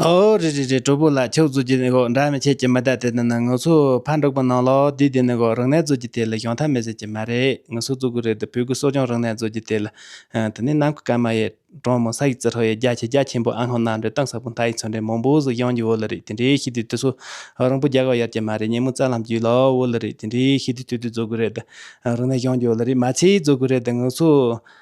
ཨོ་རེ་རེ་རེ་གྲོགས་པོ་ལགས་ཁྱོད་གཙོས་ཀྱི་ནི་འདྲ་མི་བྱེད་ཀྱི་མི་དག་དེ་དག་ནི་ངུ་ཚོ་ཕར་འགྲོགས་པ་ནང་ལོགས་དུས་དེ་ནི་གོ་རང་ནས་གཙོས་ཀྱི་དེ་ལ་གཞོན་ཐབས་མེད་ཟེར་གྱི་མ་རེད་ངུ་ཚོ་གཙོས་གི་རེད་དེ་བོད་གི་གསོ་སྦྱོང་རང་ནས་གཙོས་ཀྱི་དེ་ལ་དེ་ནི་ནམ་གི་ཀརྨ་ཡའི་གྲོང་མི་ས་ཡིག་ཙི་ཧྲོ་ཡའི་རྒྱ་ཆེ་རྒྱ་ཆེན་པོ་ཨ་ལྷོ་ནམ་རེ་སྟངས་ས་བུན་ཐག་ཡིག་ཚོན་རེ་མང་པོ་ཟིག་གཡང་གྱི་འོ་ལི་རེད་དེ་འདྲའི་ཤི་དུས་དུས་སུ་རང་བུ་རྒྱག་ག་ཡར་གྱི་མ་རེད་ཉིན་མོ་རྩ་ལྷམ་གྱི་ལོགས་འོ་ལི་རེད་དེ་འདྲའི་ཤི་དུས་དུས་དུས་གཙོས་གི་རེད་དེ་རང་ནས་གཡང་གྱི་འོ་ལི་རེད་མ་ཚད་གཙོས་གི་རེད་དེ་ངུ་ཚོ་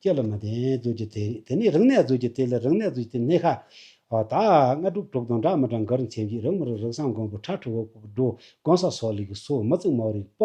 སྐྱེ་ལ་མ་བརྟེན་རྫུས་ཀྱི་དེ། དེ་ནས་རིག་གནས་རྫུས་ཀྱི་དེ་ལས་རིག་གནས་རྫུས་ཀྱི་དེ་སྣེ་ཁ། དག། ལྔ་དྲུག་དྲུག་དང་འདྲ་མི་འདྲ་མགར་མཚན་གྱིས་རིག་མི་རིག་རིག་གསང་མགོན་པོ་ཁྲ་ཁྲི་འོག་པོ་སྒྲོ་དགོན་ས་སོགས་ལས་ཀྱི་སོ་མི་བརྩིགས་མའོ་རིག་པ།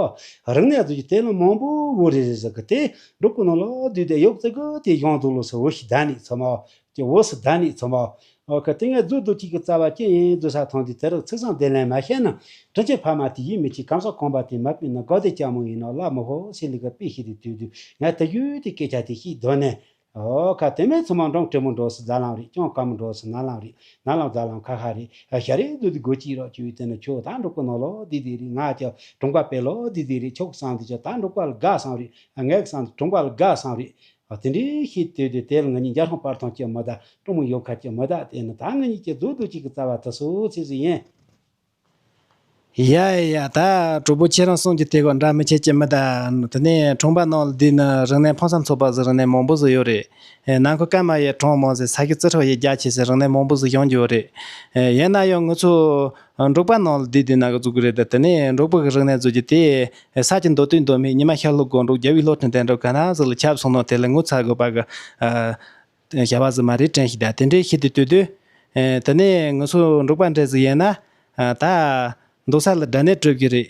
རིག་གནས་རྫུས་ཀྱི་དེ་ལ་མང་པོའོ་རེ་རེ་ཟེར་གི་དེ། འབྲུག་གི་ནང་ལོགས་བསྡུས་ཏེ་ཡོག་བརྩེགས་གི་དེ་གཞུང་དུ་ལོགས་སུ་འོ་ཞིག་བཟླས་ནས་ཚོད་མའོ། ཀྱི་འོག་སུ་བདག་ནི་ཚོམ་བའོ། ཨོ་ཁི་ཏི་ངས་རྫུ་འདུ་གཅིག་གི་རྩ་བ་ཅི་ཡིན་རྫུ་ས་ཐང་དུས་དེ་རག་ཚིག་བཟང་བདེ་ལན་མ་ཤེས་ན་དྲིན་ཆེ་ཕ་མ་དེ་ཡིད་མི་ཆེས་གམ་ས་གོམ་པ་དེ་མ་སྤི་ན་དགའ་བདེ་སྐྱ་མོ་ཡིན་ནོ་ལ་མོ་ཧོ་སི་ལི་ཀ་པི་ཤི་རི་དུས་དུས་ངས་དེ་ཡུལ་དེ་སྐད་ཆ་དེ་ཤིག་གདོད་ནས། ཨོ་ཁ་ཏི་མས་ཚོམ་བ་འབྲོང་བྲེ་མོ་འགྲོ་སི་རྫ་ལམ་རེད་སྐྱོང་དཀར་མོ་འགྲོ་སི་ནག་ལམ་རེད་ནག་ལམ་རྫ་ལམ་ཁ་ཁ་རེད་ཤ་རེད་རྫུ་འདི་དགོད་ཅིག་རོགས་ཁྱོའི་དེ་ན་ཁྱོ་ད་འབྲོག་པ་ནོ་ལོ་དི་དི་རེད་ང་ཀྱ་གྲོང་པ་པེ་ལོ་དི་དི་རེད་ཁྱོ་གི་སང་འདི་ཀྱ་ད་འབྲོག་པ་ལ་དགའ་སང་རེད་ངའི་གི་སང་འདི་གྲོང་པ་ལ་དགའ་སང་རེད་ཨ་ཙི་འདྲེ་ཞེས་བསྟོད་དེ་དེར་ང་གཉིས་འཇའ་ལྷང་པར་ཐང་ཆེ་མོ་དང་སྤྲང་མོ་ཡོབ་ཁ་ཆེ་མོ་དག་བསྡད་ནས་ད་ང་གཉིས་ཀྱི་རྫུ་འདུག་ཅིག་གི་རྩ་བ་དེ་སོ་ཚིགས་སུ་ཡན། ཡ་ཡ་ད་གྲོགས་པོ་ཁྱེད་རང་གསུམ་གྱི་དེ་ག་འདྲ་མི་བྱེད་ཀྱི་མི་དེ་དེ་ནས་གྲོང་པ་ནང་ལ་བསྡད་ན་རིང་ནས་ཕངས་སམ་ཚོགས་པ་བཟོ་རིང་ནས་མང་པོ་བཟོ་ཡོད་རེད། ནང་ཁུལ་སྐར་མ་ཡས་གྲོངས་མང་ཟེར་ས་ཁྱི་རྩི་ཁྲག་ཡས་རྒྱ་ཆེ་ཟེར་རིང་ནས་མང་པོ་བཟོ་ཡོང་གྱི་ཡོད་རེད། ཡན་ན་ཡང་ངུ་ཚོ། འབྲོག་པ་རྣམས་ལ་དུས་དེ་ནང་གི་གཙུག་གི་རེད་དེ་ནས་འབྲོག་པ་གི་རིག་གནས་གཙོ་གྱུར་དེ། ས་ཀྱི་མདོ་དུས་མདོ་སྨད་ཉི་མ་ཤར་ལྷོ་གོང་འབྲོག་རྒྱལ་བོའི་ལྷོ་བྲན་དལ་འབྲོག་ག་ན་ཟིག་ལ་ཁྱབ་སོང་ནོ་དེ་ལ་ངོ་ཚ་དགོས་པ་གི། བྱ་བ་ཟིག་མ་རེད་དྲན་ཞིག་དང་དེ་འདྲའི་ཤི་དུས་ལྟོས་དུས། དེ་ནས་ངུ་སོ་འབྲོག་པ་འདྲ་ཟིག་ཡིན་ན། ད། འདུག་ས་ལ་དགྲ་ནད་བྲོས་གི་རེད།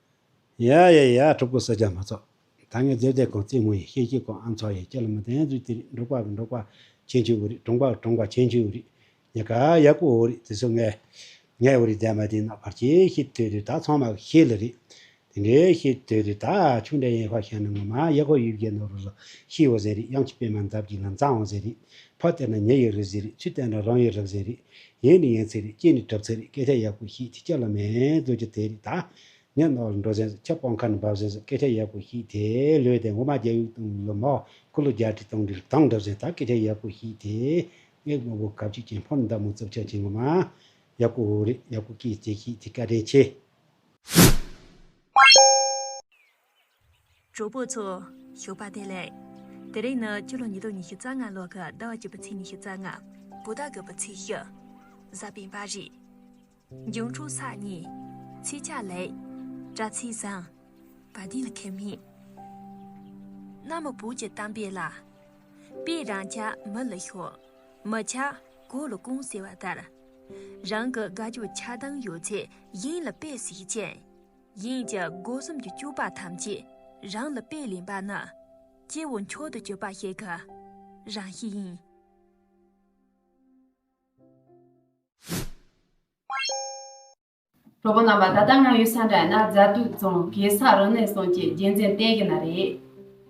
ཡ་ཡ་ཡ་ཕྲུ་གུ་བསོད་རྒྱ་མ་ཚོགས། ད་ངས་བརྗོད་བསྡད་གོང་རྩེད་མོ་ཡིན་ཤེས་ཀྱི་གོང་ཨ་མཚོ་ཡིན་ཁྱེད་ལ་མི་དན་རྫུས་དེ་རིགས་འབྲོག་པ་བི་འབྲོག་པ་ཁྱེད་ཀྱི་འོ་རིགས་གྲོང་པ་བི་གྲོང་པ་ཁྱེད་ཀྱི་འོ་རིགས། ཉེ་ཁ་ཡག་པོ་འོ་རིགས་དེ་ཚོ་ངས། ངའི་འོ་རིགས་འདས་མ་འདས་ན་བར་ཆད་ཤེས་དོད་དུས་ད་ཚང་མ་གི་ཤེས་ལ་རེད། དེ་འདྲའི་ཤེས་དོད་དུས་ད་ཆུང་འདྲ་ཡན་ཧོ་ཤ་ནི་ངོ་མ་ཡག་ཧོ་ཡུལ་བརྒྱད་ནོར་བུ་ལ་ཤིས་འོ་ཟེར་རིགས་གཡང་ཆི་པད་མ་འདབ་ཀྱི་ལམ་བཟང་འོ་ཟེར་རིགས། ཕར་བལྟས་ན་ཉེ་ཡི་རུས་ཚིགས་རིགས་ཕྱི་བལྟས་ན་རང་ཡི་རང་བཞིན་རིགས། ཡན་ནི་ཡན་ཚིགས་རིགས་སྐྱེས་ནི་གྲབ་ཚིགས་རིགས་སྐད་ཆ་ཡག་པོ་ཤིག་ཐིག་ཆ་ལ་མེད་འདོད་ཀྱི་དེ་རིགས་དང། ནད་རྣོ་ལ་འགྲོ་བཞིན་སོ་ཁྱབ་སྤང་ཁ་ནས་འབབ་བཞིན་སོ་སྐད་ཆ་ཡག་པོ་ཤིག་དེ་ལོས་དེ་འོ་མ་རྒྱ་དབྱུག་དང་ལོ་མ། ཀུ་ལུ་རྒྱ་ཁྲི་དང་འབྲུ་དང་འདྲ་བཞིན་དག་སྐད་ཆ་ཡག་པོ་ཤིག་དེ། སྔས་དམར་བོ་གབ་ཅིག་ཅན་ཕོར་མདའ་མོ་རྩབ་ཆག་ཅན་ངོ་མ། ཡག་པོ་འོ་རེད་ཡག་པོ་སྐད་ཅིག་ཅན་ཤིག་དེ་བཀའ་དྲིན་ཆེ། གྲོགས་པོ་ཚོ། ཞོགས་པ་དེ་ལེགས། དེ་རིང་ནི་ཕྱི་ལོ་ཉིས་སྟོང་ཉི་ཤུ་རྩ་ལྔ་ལོ་ཀ་ཟླ་བ་བཅུ་པའི་ཚེས་ཉི་ཤུ་རྩ་ལྔ། བོ་ད་གི་པོ་ཚེས་ཤི། གཟའ་སྤེན་པ་རི། འབྱུང་འཁྲུགས་ས་གཉིས། ཚེས་ཆ་ལེགས། དྲ་ཚིགས་བཟང། བ་དེ་ལ་ཁེ་མི། གནའ་མི་བོད་ཀྱི་གཏམ་དཔེ་ལ། དཔེ་རང་ཆ་མི་ལ་ཤོ། མི་ཆ། གོ་ལ་ཀུང་ཟེར་བ་ལྟར། རང་གི་དགའ་སྐྱོ་ཆགས་སྡང་ཡོད་ཚད་གཞན་ལ་དཔེ་ཟིག་ཅན། ཡིན་ཀྱང་སྒོ་གསུམ་གྱི་སྤྱོད་པ་ཐམས་ཅད་རང་ལ་དཔེ་ལེན་པ་ན། སྐྱེ་བོ་མཆོག་ཏུ་གྱུར་པ་ཞིག་གི་རང་གཤིས་ཡིན། གྲོགས་པོ་རྣམ་པ་ད་ལྟ་ང་ཡོད་ས་འདྲ་ཡིན་ན་རྫ་སྟོད་རྫོང་གེ་སར་རི་གནས་སོང་བཅས་རྒྱལ་མཚན་བསྟན་གྱི་ན་རེད།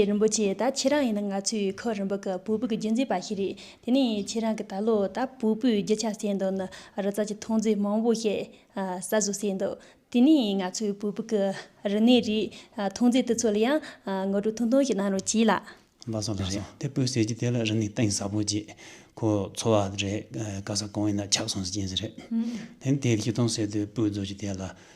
ཁྱེད་རིན་པོ་ཆེ་ད་ཁྱེད་རང་ཡིན་ན་ང་ཚོའི་ཁོ་རིན་པོ་གི་བུ་བུ་གི་རྒྱུ་མཚན་པ་ཞིག་རེད་དེ་ནས་ཁྱེད་རང་གི་ད་ལོ་ད་བུ་བུའི་རྒྱུ་ཆ་བསད་འདུག་ནི་རི་རྩ་གྱི་ཐོང་རྫས་མང་བོ་ཞིག་ཟ་བཟོ་བསད་འདུག་དེ་ནས་ང་ཚོའི་བུ་བུ་གི་རི་ནས་རི་ཐོང་རྫས་དེ་ཚོ་ལ་ཡང་ངོ་སྤྲོད་ཐུང་ཐུང་ཞིག་གནང་རོགས་གྱིས་ལགས། ལགས་སོ་ལགས་སོ་དེ་སྤོས་ཟེར་གྱི་དེ་ལ་རི་ནས་སྟེང་ཟ་བོ་གྱིས་ཁོ་འཚོ་བ་རེད་དཀའ་ས་གང་ཡིན་ན་ཆགས་སོང་ཟེར་གྱིན་ཟེར་རེད་དེ་ནས་དེ་རི་ཐོང་ཟེར་དེ་སྤོས་བརྫོ་གྱི་དེ་ལ།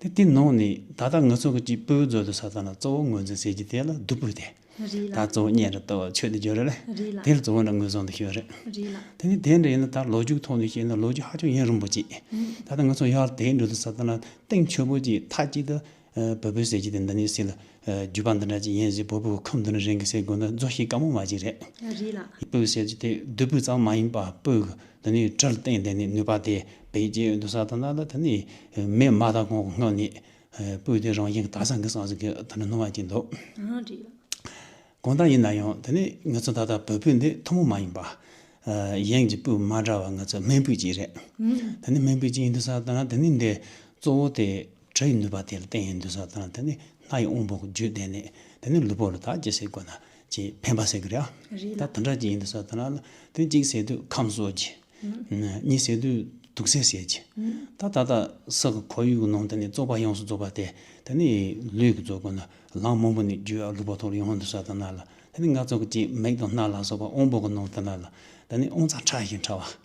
དེ་དེ་ནང་ནས་ད་ལྟ་ངུ་ཚོགས་ཀྱི་གཅིག་པུའི་མཛོད་དུ་ས་ཐང་ལ་གཙོ་བོ་ངོས་འཛིན་ཟེར་གྱི་དེ་ལ་བདུག་སྤོས་དེ། རིགས་ལ། ད་གཙོ་བོ་གཉེན་རེ་དོ་ཆོས་དེ་འབྱོར་རེ་ལ། དེ་ལ་གཙོ་བོ་འདྲ་ངོས་བཟུང་དུ་ཤོད་རེ། རིགས་ལ། དེ་ནི་དེ་འདྲ་ཡིན་ན་ད་ལོ་རྒྱུགས་ཐོག་ནས་བཤད་ན་ལོ་རྒྱུས་ཧ་ཅང་ཡིན་རུང་པོ་ཅི། ད་ལྟ་ངུ་ཚོགས་ཡར་དེའི་འགྲོས་དུ་ས་ཐང་ལ་སྟེང་ཆོས་པོ་ཅིག་ཐ་ཅིག་ཏུ་བོད་པོའི་ཟེར་གྱི་དེ་འདི་ནས་སྲིད་ལ། བརྒྱུད་པ་འདི་འདྲ་ཅིག་ཡིན་ཞེས་བོད་ཕྲུག་ཁམས་དོན་རིན་གྱི་ཟེར་དགོས་ན་རྫོགས་ཤིང་དཀའ་མོ་མ་ཅིག་རེད། རེད་ལགས། སྤོས་བཤད་རྒྱུ་དེ་བདུད་སྤོས་ཙམ་མ་ཡིན་པ་སྤོས་དེ་ནི་དྲིལ་བསྟན་དེ་ནི་ནུས་པ་དེ་བེད་སྤྱད་འདུག་ས་དང་ནགས་ལ་དེ་ནི་མེད་མ་ད་གོང་གི་སྔོན་ནས་སྤོས་དེ་རང་བཞིན་གྱི་དག་སང་གི་སང་ཟིག་གི་དེ་འདྲ་སྣང་བ་ཅིག་འདུག། ཨང། རེད་ལགས། གང་ལྟར་ཡིན་ན་ཡང་དེ་ནི་ངེད་ཚོ་ད་ལྟ་བོད་སྤོས་འདི་ཐུན་མོང་མ་ཡིན་པ། གཞན་གྱི་སྤོས་མ་འདྲ་བ་ངེད་ཚོ་སྨན་སྤོས་ཅིག་རེད། དེ་ནི་སྨན་སྤོས་ཅིག་ཡིན་འདུག་ས་དང་ནགས་དེ་ནི་འདི་གཙོ་བོ་དེ། བྲོ་ཡི་ནུས་པ་དེ་ལ་བརྟེན་ཡང་འདུན་ས་དང་དེ་ནི་སྣ་ཡི་དབང་པོའི་རྒྱུད་བསྟེན་ནས་དེ་ནི་ལུས་པོ་རི་དྭགས་ཀྱི་ཟས་དགོས་ན་ཅེས་ཕན་པ་ཟེར་གི་རེད་ཨ། ད་དོན་དགྲ་གཅིག་ཡིན་འདུན་ས་དང་ལ་དོན་གཅིག་ཟས་དུས་ཁམས་གསོ་རྒྱུ། གཉིས་ཟས་དུས་དུག་སེལ་བྱེད་རྒྱུ། ད་ད་ལྟ་ས་གི་ཁོར་ཡུག་ནང་དེ་ནི་བཙོག་པ་ཡོངས་སུ་བཙོག་པ་དེ་དེ་ནི་ལུས་ཀྱི་བཙོག་དགོས་ན་ལངས་མང་པོ་ནི་རྒྱུ་ཨ་ལུས་པོ་ཐོར་ཡོང་འདུན་ས་དང་ལ་དེ་ནི་ནག་བཙོག་གཅིག་མིག་དང་སྣ་ལ་སོགས་པ་དབང་པོ་གི་ནང་དེ་ལ་ལ་དེ་ནི་དབང་རྩ་ཕྲ་ཞིང་ཕྲ་བ།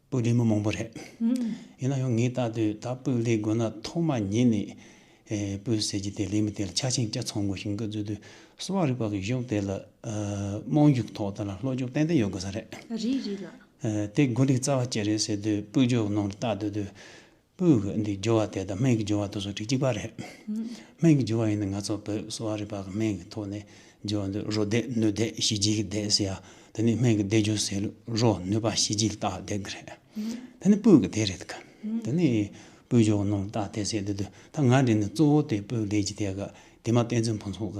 སྤུས་ལེགས་མི་མང་པོ་རེད། ཡིན་ན་ཡང་ངས་བལྟ་དུས་ད་སྤུས་ལེགས་དགོས་ན་ཐོག་མ་ཉིད་ནས་སྤུས་ཟེར་གྱི་དེ་ལས་མི་དེ་ལ་ཆ་ཆེན་སྐྱ་ཚང་དགོས་ཤིང་སྐུ་མཛོད་དུ་གསོ་བ་རིག་པ་གི་གཞུང་དེ་ལ་རྨོངས་རྒྱུགས་ཐོག་དེ་ལ་བློ་འཇུག་ཏན་ཏན་ཡོད་དགོས་ས་རེད། རེད་རེད་ལགས། དེ་དགོས་རིགས་རྩ་བ་བཅད་རེད་ཟེར་དུས་སྤུས་ལྗོགས་ནང་དུ་བལྟ་དུས་དུས་སྤོས་ཀྱི་འདི་སྦྱོར་བ་དེ་དང་སྨན་གྱི་སྦྱོར་བ་དུ་སོ་ཁྲི་གཅིག་པ་རེད། སྨན་གྱི་སྦྱོར་བ་ཡིན་ན་ང་ཚོ་བོད་གསོ་བ་རིག་པ་གི་སྨན་གྱི་ཐོག་ནས་སྦྱོར་བ་འདི་རོ་བདེ་སྣོད་བདེ་ཞི་བྱེད་ཀྱི་བདེ་ཟེར་ཡ་དེ་ནི་སྨན་གྱི་བདེ་སྦྱོར་ཟེར་ལུགས་རོ་ནུས་པ་ཞི་བྱེད་ལ་བཏགས་བདེ་གི་རེད། དེ་ནི་སྤོས་ཀྱི་དེ་རེད་གི། དེ་ནི་སྤོས་སྦྱོར་བ་རྣམས་བཏགས་བདེ་ཟེར་དེ་དུས་ད་ང་འདྲེ་ནི་གཙོ་བོ་དེ་སྤོས་བདེ་ཀྱི་དེ་ག་དེ་མ་བསྟན་ཚུལ་ཕུན་ཚོགས་ག་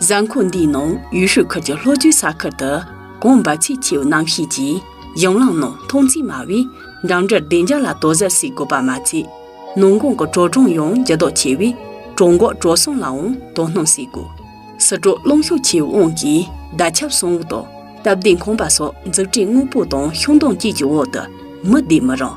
གཟའ་འཁོར་འདིའི་ནང་ཡུས་ཧྲུའུ་ཁུལ་གྱི་ལྷོ་རྒྱུད་ས་ཁུལ་དུ་ཀོང་པ་ཚེ་ཆུའི་གནམ་གཤིས་ཀྱིས་གཞུང་ལམ་ནང་མཐོང་ཚད་དམའ་བས་འགྲིམ་འགྲུལ་བདེ་འཇགས་ལ་དོ་ཟ་བྱེད་དགོས་པ་མ་ཚད། ནུང་ཀོང་གི་གྲོ་གྲོང་ཡང་འགྱུར་ལྡོག་ཆེ་བས་གྲོང་འགོག་གྲོ་སོང་ལའང་དོ་སྣང་བྱེད་དགོས། སི་ཀྲོའུ་རླུང་ཤུགས་ཆེའི་དབང་གིས་བརྡ་ཁྱབ་སྲུང་དབུགས་དང་སྟབས་བདེ་ཁང་པ་སོགས་འཛུགས་སྐྲུན་དངོས་པོ་དང་ཤུགས་འདོན་བཅས་ཀྱི་འོག་ཏུ་མི་བསྡད་མི་རུང།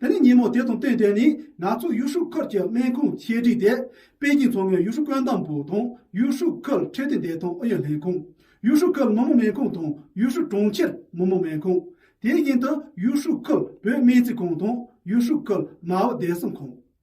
དེ་ནས་ཉིན་མོ་དེ་དང་བསྟུན་ཏེ་ནི་ནག་ཆུ་ཡུས་ཧྲུའུ་ཁུལ་གྱི་སྨན་ཁུངས་ཆེད་བསྒྲིགས་ཏེ་པེ་ཅིང་མཚོ་སྔོན་ཡུས་ཧྲུའུ་བཀོད་འདོམས་པུའུ་དང་ཡུས་ཧྲུའུ་ཁུལ་ཁྲལ་དོན་བདེ་ཐང་ཨུ་ཡོན་ལྷན་ཁང། ཡུས་ཧྲུའུ་ཁུལ་མི་དམངས་སྨན་ཁང་དང་ཡུས་ཧྲུའུ་གྲོང་ཁྱེར་མི་དམངས་སྨན་ཁང། དེ་བཞིན་དུ་ཡུས་ཧྲུའུ་ཁུལ་བོད་སྨན་རྩིས་ཁང་དང་ཡུས་ཧྲུའུ་ཁུལ་མའོ་བདེ་སྲུང་ཁང།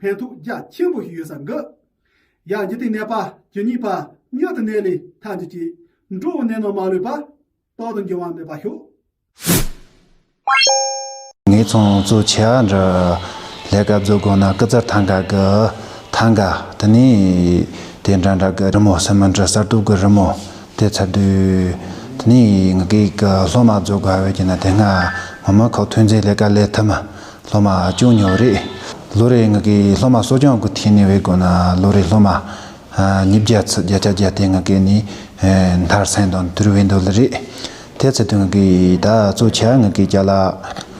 ཕན་ཐོགས་རྒྱ་ཆེན་པོ་ཞིག་ཡོད་ས་འགི། ཡང་འཇིག་རྟེན་གནས་པ་ཇི་སྙེད་པ་མྱུར་དུ་གནས་ལས་ཐར་འདི་ཅི། འགྲོ་བའི་གནས་རྣམས་མ་ལུས་པ། རྟག་ཏུ་འགྱུར་བ་མེད་པར་ཤོག། ངའི་ཚོང་གཙོ་ཆེ་བ་འདྲ། ལས་ཀ་བཟོ་དགོས་ན་སྐུ་ཙར་ཐང་ག་གི། ཐང་ག། དེ་ནས། དེ་འདྲ་འདྲ་གི་རི་མོ་སེ་མོན་ཏྲི་གསར་གཏོད་གི་རི་མོ། དེ་ཚ་དུས། དེ་ནས། ངག་གིས་གི་སློབ་མ་བཟོ་དགོས་བས་ཀྱི་ན་དེ་སྔ། ངོ་མ་ཁོག་ཐོན་རྫས་ལས་ཀ་ལས་ཐུབ་མ། སློབ་མ་ཅུང་ཉོབ་རེད། ལོ་རེའི་ང་གི་སློབ་མ་གསོ་སྐྱོང་གི་ཐད་ནས་བས་དགོས་ན་ལོ་རེའི་སློབ་མ་ཉིས་བརྒྱ་ཚུད་བརྒྱ་ཆ་བརྒྱ་དེ་ང་གི་ནི་མཐར་སེང་དང་དུར་བས་འདོད་ལེ་རེད། དེ་ཚེ་དུས་ང་གི་ད་གཙོ་ཆེ་ང་གི་བསྐྱལ།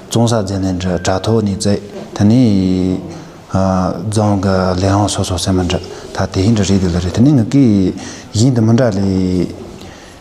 བཙོང་ས་རྫས་ལེན་དྲ་ཐོག་ནས་རྫས་དེ་ནི་བཙོང་གི་ལས་ཨང་སོ་སོ་སེ་མི་འདྲ་ད་དེ་ཧིན་དྲ་རེད་འདོད་ལེ་རེད་དེ་ནི་ང་གི་ཡིན་དུ་མི་འདྲ་ལེ།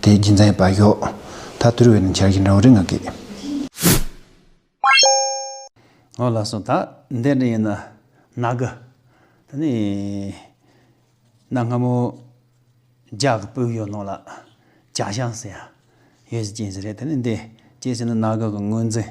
དེའི་རྒྱུ་མཚན་བག་ཡོད། ད་དུར་བའི་ནི་འཆར་གཞི་འདྲ་བོ་རེ་ང་གིས། ངོ་ལ་སོང་ད་འདས་འདྲ་ཡིན་ན་ན་གི། ད་ནི་གནའ་སྔ་མོ་རྒྱ་གི་དཔོན་གཡོག་རྣམས་ལ་ཅག་ཤང་ཟེར་ཡང་ཡོད་ཟེར་གྱིན་ཟེར་རེད་ད་ནི་འདས་ཅེས་ཟེར་ན་ན་གི་གི་ངོས་འཛིན།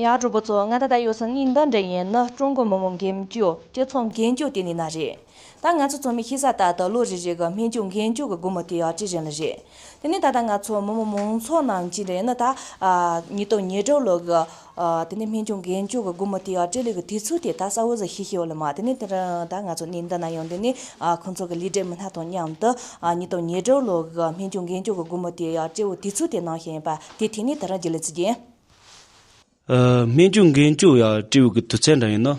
ཡ་གྲོགས་པོ་ཚོ་ང་ད་ལྟ་ཡོད་ས་ནི་འདི་འདྲ་ཡིན་ནི་ཀྲུང་གོ་མི་དམངས་འགན་བཅོལ་སྤྱི་ཚོགས་འགན་བཅོལ་དེ་ནི་ན་རེད། ད་ང་ཚོ་ཚོ་མི་ཤི་ས་ལྟར་དུ་ལོ་རེ་རེ་གི་སྨན་བཅོས་འགན་བཅོལ་གི་སྒོར་མོ་དེ་ཡང་ཅི་རིན་ལ་རེད། དེ་ནི་ད་ལྟ་ང་ཚོ་མི་དམངས་མང་ཚོགས་ནང་བྱིན་རེ་ནི་ད་ཉིད་དུ་ཉེ་དྲུག་ལོ་གི་དེ་ནས་སྨན་ཆུང་རྒན་ཅུག་གི་སྒུར་མོ་དེའང་སྤྲེལ་ལད་ཀྱི་དུས་ཚོད་དེ་ད་ས་འོད་ཟེར་ཤི་ཤི་འོ་ལ་མ་དེ་ནས་ད་ང་ཚོ་ནི་འདི་ན་ཡོང་དེ་ནས་ཁོང་ཚོ་གི་ལི་འབྲས་མི་སྣ་དང་མཉམ་དུ་ཉིས་སྟོང་ཉེར་དྲུག་ལོ་གི་སྨན་ཆུང་རྒན་ཅུག་གི་སྒུར་མོ་དེའང་སྤྲེལ་བོ་དུས་ཚོད་དེ་ནང་ཞིག་ཡིན་པ་དེ་དེ་ནས་ད་རང་གི་ལི་ཚུ་རྒྱན། སྨན་ཆུང་རྒན་ཅུག་ཡང་སྤྲེལ་བོ་གི་དུས་ཚད་འདྲ་ཡིན་ནོ།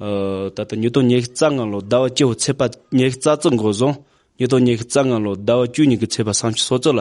ད་ལྟ་ཉིས་སྟོང་ཉེར་གཅིག་རྩ་ལྔ་ལོ་ཟླ་བ་བཅུ་བོ་ཚེས་པ་ཉེར་གཅིག་རྩ་གཙུག་འགོ་བཟུང་ཉིས་སྟོང་ཉེར་གཅིག་རྩ་ལྔ་ལོ་ཟླ་བ་བཅུ་གཉིས་ཀྱི་ཚེས་པ་སང་ཕྱི་སོ་ཙོ་ལ་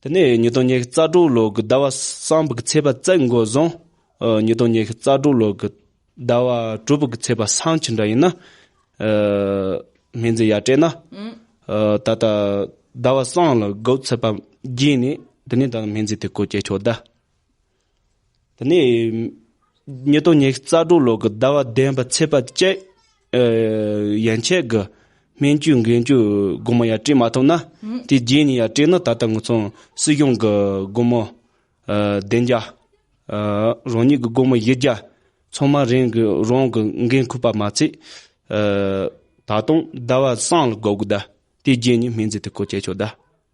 དེ་ནས་ཉིས་སྟོང་ཉེར་རྩ་དྲུག་ལོ་དགུ་ཟླ་བ་གསང་ཕུག་ཚེས་པ་བཙས་མགོ་བཟུང། ཉིས་སྟོང་ཉེར་རྩ་དྲུག་ལོ་དགུ་ཟླ་བ་དྲུག་ཕུག་ཚེས་པ་སང་ཇི་འདྲ་ཡིན་ན། སྨན་རྩིས་ཡར་སྤྲད་ན། ད་ལྟ་ཟླ་བ་གསང་ལ་དགུ་ཚེས་པ་བརྒྱད་ནས་དེ་ནས་ད་སྨན་རྩིས་དེ་ཀོ་བསྐྱལ་ཆོག་གདའ། དེ་ནས་ཉིས་སྟོང་ཉེར་གསར་སྒྲུང་ཀློག་གི་ཟླ་བ་བདུན་པ་ཚེས་པ་བཅས་ཡན་ཆད་ཀྱི་སྨན་བཅོས་འགན་བཅོལ་སྒོར་མོ་ཡར་སྤྲད་མ་ཐུབ་ན་དེ་རྗེས་ནས་ཡར་སྤྲད་ན་ད་ལྟ་ངོས་ཚང་སྲིད་གཞུང་གི་སྒོར་མོ་བདུན་བརྒྱ། རང་ཉིད་ཀྱི་སྒོར་མོ་བཞི་བརྒྱ་ཚང་མ་རང་གི་འགན་ཁུར་པ་མ་ཚད། ད་དུང་ཟླ་བ་གསང་ལ་དགོས་གི་གདའ། དེ་རྗེས་ནས་སྨན་རྫས་དེ་གོ་བཅད་ཆོག་གདའ།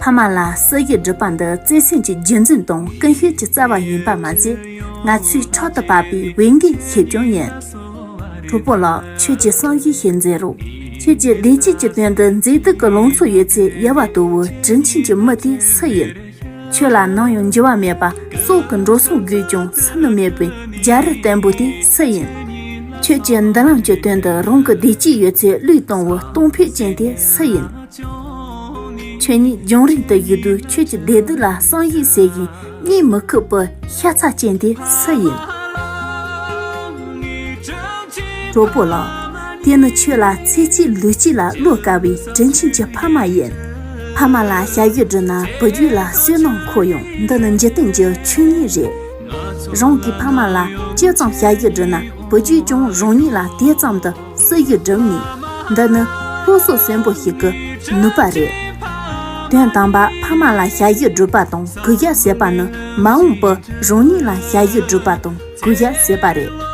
ཕ་མ་ལ་སྲོལ་རྒྱུན་སྒྲུབ་པ་འདི་བརྩེ་སེམས་ཀྱི་རྒྱུན་འཛིན་དང་ཀུན་སྤྱོད་ཀྱི་རྩ་བ་ཡིན་པ་མ་ཟད། ང་ཚོའི་ཕྲག་ཏུ་བབས་པའི་འོས་འགན་ཞིག་ཀྱང་ཡིན། གྲོགས་པོ་ལགས་ཁྱོད་ཀྱི་བསམ་གཞིགས་ཤིག་མཛད་རོགས། ཁྱོད་ཀྱི་བདེ་སྐྱིད་ཀྱི་དོན་དུ་མཛེས་སྡུག་གི་ལང་ཚོ་ཡོད་ཚད་ཡལ་བ་དོ་བོ་དྲིན་ཆེན་གྱི་མི་དེ་སུ་ཡིན། ཁྱོད་ལ་ནམ་ཡང་འགྱུར་བ་མེད་པ་སྲོག་གི་འགྲོ་སོང་བརྒུས་ཀྱང་ཟིན་ནུ་མེད་པའི་རྒྱ་རི་བརྟན་པོ་དེ་སུ་ཡིན། ཁྱོད་ཀྱི་མདུན་ལམ་གྱི་དོན་དུ་རང་གི་བདེ་སྐྱིད་ཡོད་ཚད་བློས་གཏོང་བའི་གཏོང་ཕོད་ཅན་དེ་སུ་ཡིན། ཁྱོད་ཉིད་རྒྱང་རིང་དུ་ཡོད་དུས་ཁྱོད་ཀྱི་བདེ་སྡུག་ལ་བསམ་ཡིད་བྱེད་ཀྱིན་གཉིད་མི་ཁུག་པའི་ཤ་ཚ་ཅན་དེ་སུ་ཡིན། གྲོགས་པོ་ལགས། དེ་ནི་ཁྱོད་ལ་ཚེ་གཅིག་ལུས་གཅིག་ལ་བློས་དཀར་བའི་དྲིན་ཆེན་གྱི་ཕ་མ་ཡིན། ཕ་མ་ལ་བྱ་ཡུལ་བསྒྲུབས་ན་བུ་རྒྱུད་ལ་བསོད་ནམས་འཁོར་ཡོང་འདི་ནི་འཇིག་རྟེན་གྱི་ཆོས་ཉིད་རེད། རང་གི་ཕ་མ་ལ་ཅི་ཙམ་བྱ་ཡུལ་བསྒྲུབས་ན་བུ་རྒྱུད་ཀྱང་རང་ཉིད་ལ་དེ་ཙམ་དུ་ས་རྒྱུ་འགྲམ་ནི་འདི་ནི་ལྷོ་སོག་གསོན་པོ་ཞིག་གི་ནུས་པ་རེད། དོན་དམ་པར་ཕ་མ་ལ་བྱ་རྒྱུ་སྒྲུབ་པ་དང་གུ་རྒྱ་བསད་པ་ནི་མ་འོངས་པར་རང་ཉིད་ལ་བྱ་རྒྱུ་སྒྲུབ་པ་དང་གུ་རྒྱ་བསད་པ་རེད།